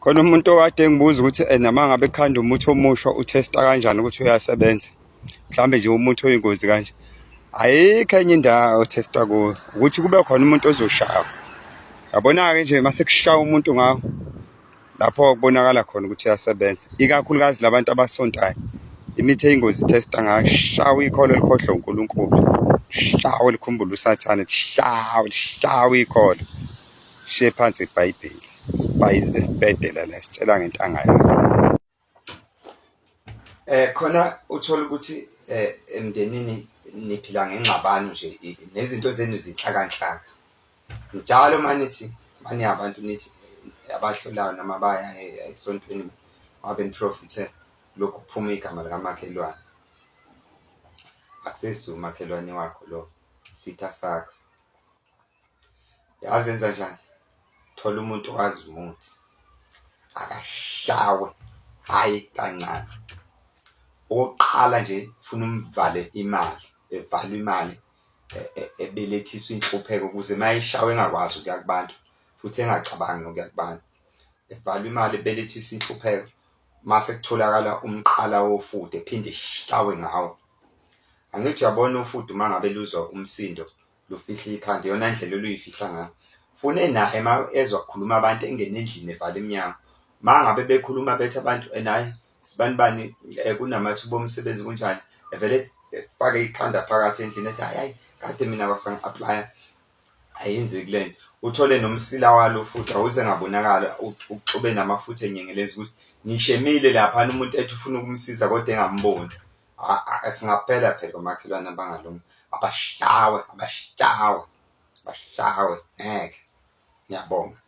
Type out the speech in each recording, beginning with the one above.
khona umuntu okade engibuza ukuthi eh, noma ngabe khanda umuthi omusha uthesta kanjani ukuthi uyasebenza mhlambe nje umuthi oyingozi kanje ayikho enye indawo othestwa kuyo ukuthi kube khona umuntu ozoshawa yabona-ke nje uma sekushaya umuntu ngawo lapho kubonakala khona ukuthi uyasebenza ikakhulukazi labantu abasontayo imithi eyingozi ithesta ngayo shawa ikholo elikhohlwa unkulunkulu shawa likhumbula usathane lishawa lishawa ikholo Shiye phansi iBhayibheli. Sibhayizile sibhedela la sicela ngentanga yazi. Eh khona uthola ukuthi eh emndenini niphila ngengxabano nje nezinto zenu zinhlakanhlaka. Njalo manithi mani abantu nithi abahlolayo noma baya esontweni wabe niprofithe lokhu kuphuma igama likamakhelwane. Akusesi umakhelwane wakho lo sitha sakho. yazi enza njani thola umuntu owazi umuthi akashawe hayi kancane okokuqala nje funa umvale imali evalwe imali e, e, ebelethiswa inhlupheko ukuze mayishawe engakwazi ukuya kubantu futhi engacabangi nokuya kubantu evalwe imali ebelethisa inhlupheko mase kutholakala umqala wofude phinde ishawe ngawo angithi uyabona ufudu uma ngabe luzwa umsindo lufihle ikhanda iyona ndlela oluyifihla ngayo fune naye ma ezwa kukhuluma abantu engene endlini evala emnyango ma ngabe bekhuluma bethe abantu naye sibani bani eh, kunamathuba omsebenzi kunjani evele efake ikhanda phakathi endlini ethi hayi kade mina kwasangi-aplya ayenzeki le nto uthole nomsila walo futhi awuze ngabonakala uxube namafutha enyengeleza ukuthi ngishemile laphana umuntu ethi ufuna ukumsiza kodwa engamboni singaphela phela omakhelwane abangalungi abashawe abashawe abashawe ngeke ngiyabonga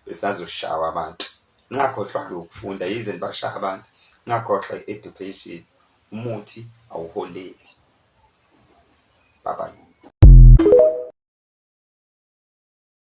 besazoshawa abantu ningakhohlwa-ke ukufunda yize nibashaya abantu ningakhohlwa i-education umuthi awuholeli bye bye